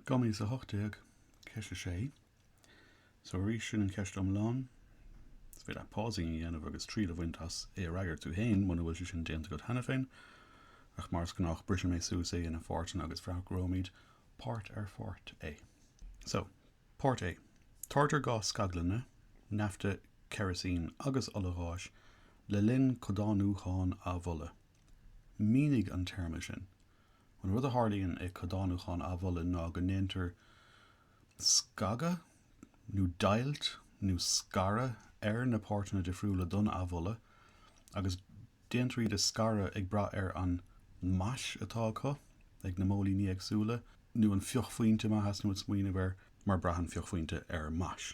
Dhá mhíle 18, ceist 6, So arís sin an cheist iomlán, is féidir leat pausing a dhéanamh agus triail a bhaint as é a fhreagairt tú féin muna bhfuil sé sin déanta agat cheana féin, ach mar is gnách briseann mé suas é ina pháirteanna agus freagróimid páirt ar pháirt é. So, páirt A, Táirgtear gás scaglainne, nafta, ceirisín agus ola gháis le linn codánúcháin amhola. Mínigh an téarma sin. An rud a tharlaíonn i gcodánúchán amhola ná go ndéantar scagadh nó deighilt nó scaradh ar na páirteanna difriúla don amhola agus déantar iad a scaradh ag brath ar an mais atá acu ag na móilíní éagsúla nó an fiuchphointe, má tá tú ag smaoineamh air mar braitheann fiuchphointe ar mais.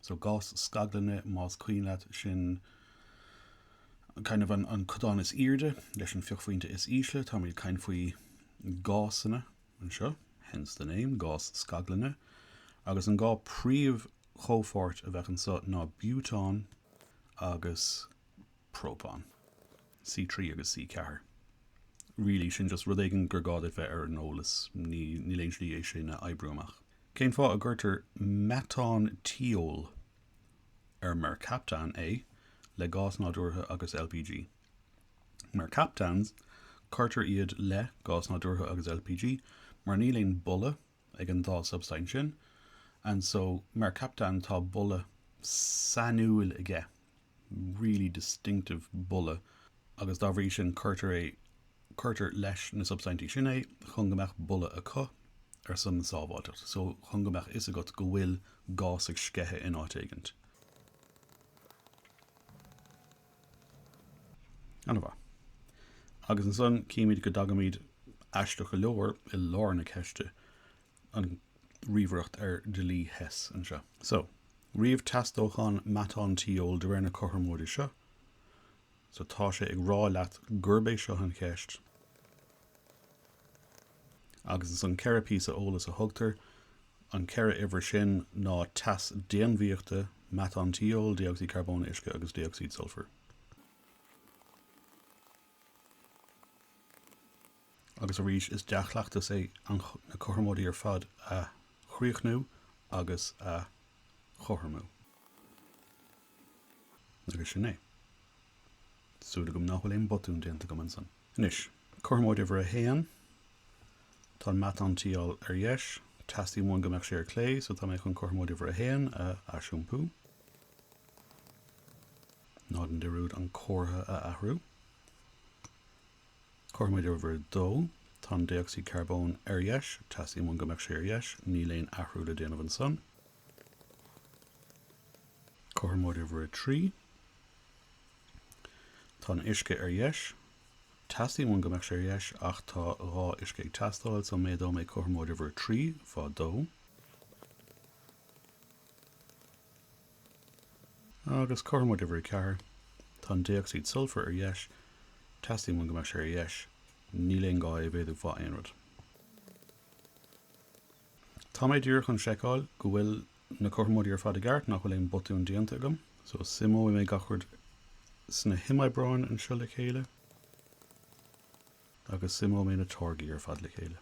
So gás scaglainne, más cuimhin leat, sin kind of an codán is airde leis an fiuchphointe is ísle. Táimid ag caint faoi gásanna anseo, hence the name, gás scaglainne. Agus an dhá príomh chomhpháirt a bheadh anseo ná biútán agus. própán. C3 agus C4. Really, sin just rud éigin gur gá duit bheith ar an eolas, níl aon slí é sin a oibriú amach. Cén fáth a gcuirtear meatán tiól, ar mercaptan, é le gás nádúrtha agus LPG? Mercaptans, cuirtear iad le gás nádúrtha agus LPG mar níl aon boladh ag an dá substaint sin, and so mercaptan tá boladh sainiúil aige, really distinctive boladh, agus dá bhrí sin cuirtear é, cuirtear leis na substaintí sin é chun go mbeadh boladh acu ar son na sábháilteacht, so chun go mbeadh fhios agat go bhfuil gás ag sceitheadh in áit éigint. Ana mhaith. Agus ansan címid go dtagaimid aisteach go leor i lár na ceiste, an ríomhaireacht ar dhlí Hess anseo. So, ríomh teas dócháin meatán tiól de réir na cothromóide seo. So, tá sé ag rá leat gurb é seo an cheist. agus ansan ceithre phíosa eolas a thugtar, an ceithre uimhir sin, ná teas déanmhaíochta, meatán tiól, dé-ocsaíd charbóin, uisce agus dé-ocsaíd sulfair. Agus arís, is dea-chleachtas é na cothromóidí ar fad a chríochnú agus a chothromú. Agus sin é. Súil agam nach bhfuil aon botún déanta agam ansan. Anois, cothromóid uimhir a haon, tá an meatántiól ar dheis, teastaíonn uainn go mbeadh sé ar clé, so tá mé chun cothromóid uimhir a haon a aisiompú, ná déan dearúd an comhartha a athrú. Cothromóid uimhir a dó, tá an dé-ocsaíd charbóin ar dheis, teastaíonn uainn go mbeadh sé ar dheis, níl aon athrú le déanamh ansan. Cothromóid uimhir a trí. Tá an uisce ar dheis. Teastaíonn uainn go mbeadh sé ar dheis ach tá dhá uisce ag teastáil so méadóidh mé cothromóid uimhir a trí fá dó. Agus cothromóid uimhir a ceathair. Tá an dé-ocsaíd sulfair ar dheis. Teastaíonn uainn go mbeadh sé ar dheis. Níl aon gá é a mhéadú fá aon rud. Tá mé díreach chun seiceáil go bhfuil na cothromóidí ar fad i gceart, nach bhfuil aon botún déanta agam. So, suimeoidh mé gach rud sna himoibreáin anseo le chéile, agus suimeoidh mé na táirgí ar fad le chéile.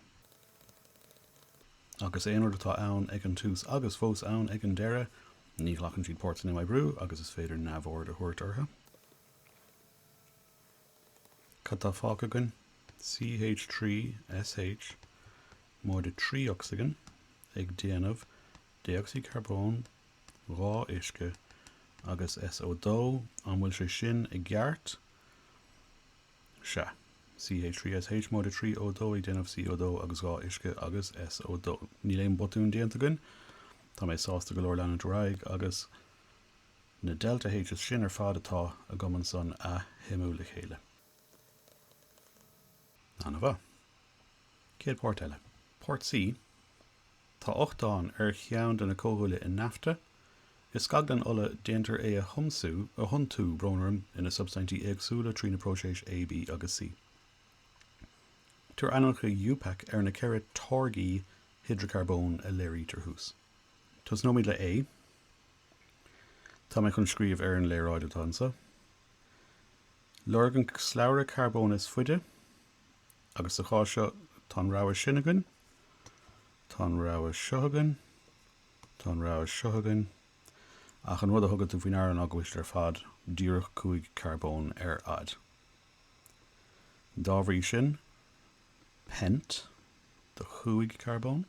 Agus aon rud atá ann ag an tús agus fós ann ag an deireadh, ní ghlacann siad páirt san imoibriú agus is féidir neamhaird a thabhairt orthu. Cad tá fágtha againn? CH trí SH móide trí ocsaigin ag déanamh dé-ocsaíd charbóin, dhá uisce agus SO2, an bhfuil sé sin i gceart? Sea. CH trí SH móide trí O2 ag déanamh CO2 agus dhá uisce agus SO2. Níl aon botún déanta againn. Tá mé sásta go leor leanúint ar aghaidh agus. Na Delta Hs sin ar fad atá agam ansan a shuimiú le chéile. Ana-mhaith. Céad páirt eile. Páirt C, Tá ochtán ar cheann de na comhdhúile i nafta. I scaglann ola déantar é a thiomsú, a thiontú, brón orm, ina substaintí éagsúla trí na próiséis A, B agus C. Tabhair ainmneacha IUPAC ar na ceithre táirgí hidreacarbón a léirítear thuas. Tosnóimid le A. Tá mé chun scríobh ar an léaráid atá anseo. Lorg an slabhra carbóin is faide, agus sa chás seo tá an rogha sin againn, tá an rogha seo againn, tá an rogha seo againn, ach an rud a thugann tú faoi ndeara ná go bhfuil siad ar fad díreach cúig charbón ar fhad. Dá bhrí sin, pent do chúig charbón.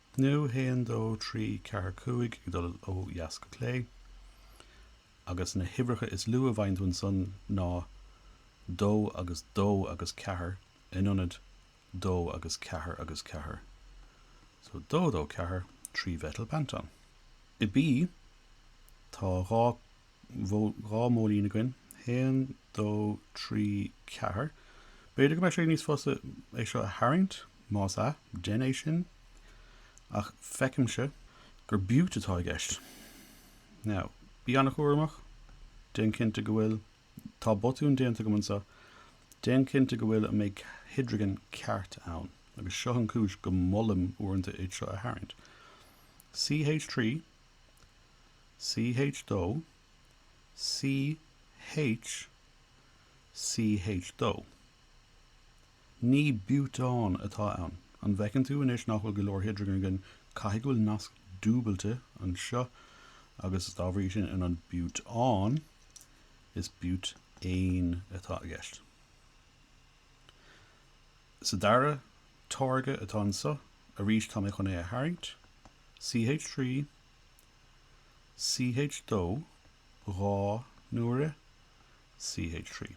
nó haon, dó, trí, ceathair, cúig, ag dul ó dheas go clé, agus na huimhreacha is lú a bhfaigheann tú ansan ná dó agus dó agus ceathair in ionad dó agus ceathair agus ceathair. So dó, dó, ceathair, trímheitil peantán. I B, tá dhá. bhfuil dhá mhóilín againn, haon, dó, trí, ceathair. B'fhéidir go mbeadh sé níos fusa é seo a tharraingt, más ea, dein é sin, ach feicimse gur bút atá i gceist. Now, bí an-chúramach, déan cinnte go bhfuil, tá botún déanta agam anseo, déan cinnte go bhfuil an méid hidrigin ceart ann, agus seo an chúis go molaim uaireanta é seo a tharraingt. CH3. CH 2 CH CH 2 Ní bútán atá ann. An bhfeiceann tú anois nach bhfuil go leor hidrigin againn, caithfidh go bhfuil nasc dúbailte anseo agus dá bhrí sin in ionad bútán, is búitéin atá i gceist. Sa dara táirge atá anseo, arís tá mé chun é a tharraingt. CH3, CH2, dhá n-uaire, CH3.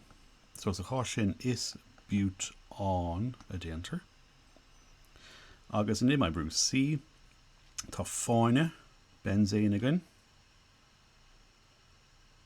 So sa chás sin is bútán a déantar. Agus in imoibriú C, tá fáinne, beinséin, againn.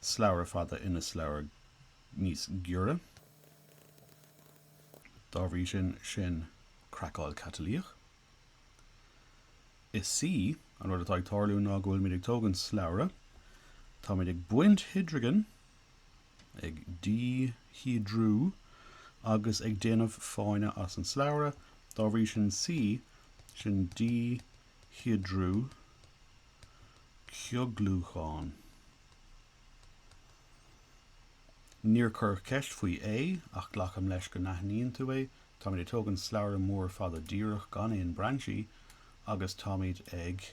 slabhra fada ina slabhra níos giorra. Dá bhrí sin, sin craiceáil catalaíoch. Is C, an rud atá ag tarlú ná go bhfuilimid ag tógaint slabhra, táimid ag baint hidrigin, ag díhiodrú, agus ag déanamh fáinne as an slabhra, dá bhrí sin, C, sin díhiodrú, cioglúchán. Níor cuireadh ceist faoi A, ach glacaim leis go n-aithníonn tú é. Táimid ag tógaint slabhra mór fada díreach gan aon brainsí agus táimid ag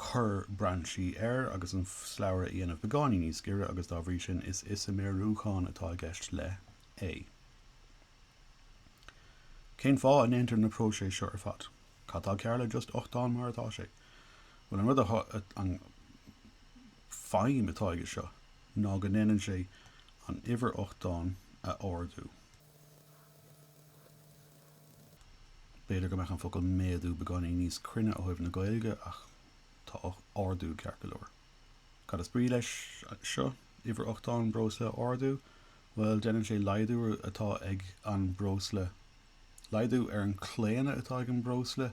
cur brainsí air agus an slabhra a dhéanamh beagáinín níos giorra agus dá bhrí sin is isiméiriúchán atá i gceist le A. Cén fáth a ndéantar na próiséis seo ar fad? Cad tá cearr le just ochtán mar atá sé? Bhuel, an rud a, an feidhm atá aige seo ná go ndéanann sé an uimhir ochtáin a ardú. B'fhéidir go mbeadh an focal méadú beagáinín níos cruinne ó thaobh na Gaeilge ach tá ardú ceart go leor. Cad is brí leis seo, uimhir ochtáin breosla a ardú? Bhuel, déanann sé laghdú atá ag an breosla, laghdú ar an claonadh atá ag an breosla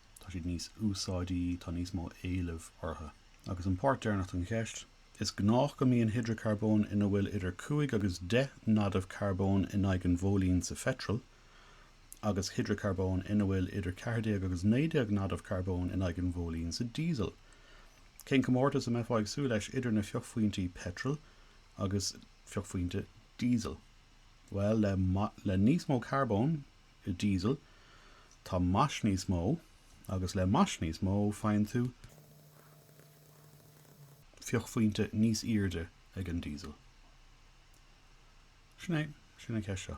tá siad níos úsáidí, tá níos mó éilimh orthu. Agus an páirt deireanach den cheist, is gnách go mbíonn hidreacarbóin ina bhfuil idir cúig agus deich n-adamh carbóin in aghaidh an mhóilín sa phetrol, agus hidreacarbóin ina bhfuil idir ceathair déag agus naoi déag n-adamh carbóin in aghaidh an mhóilín sa diesel. Cén comórtas a mbeifeá ag súil leis idir na fiuchphointí petrol agus fiuchphointe diesel? Bhuel, le níos mó carbóin, i diesel, tá mais níos mó, agus le mais níos mó faigheann tú fiuchphointe níos airde ag an diesel. Sin é. Sin an cheist seo.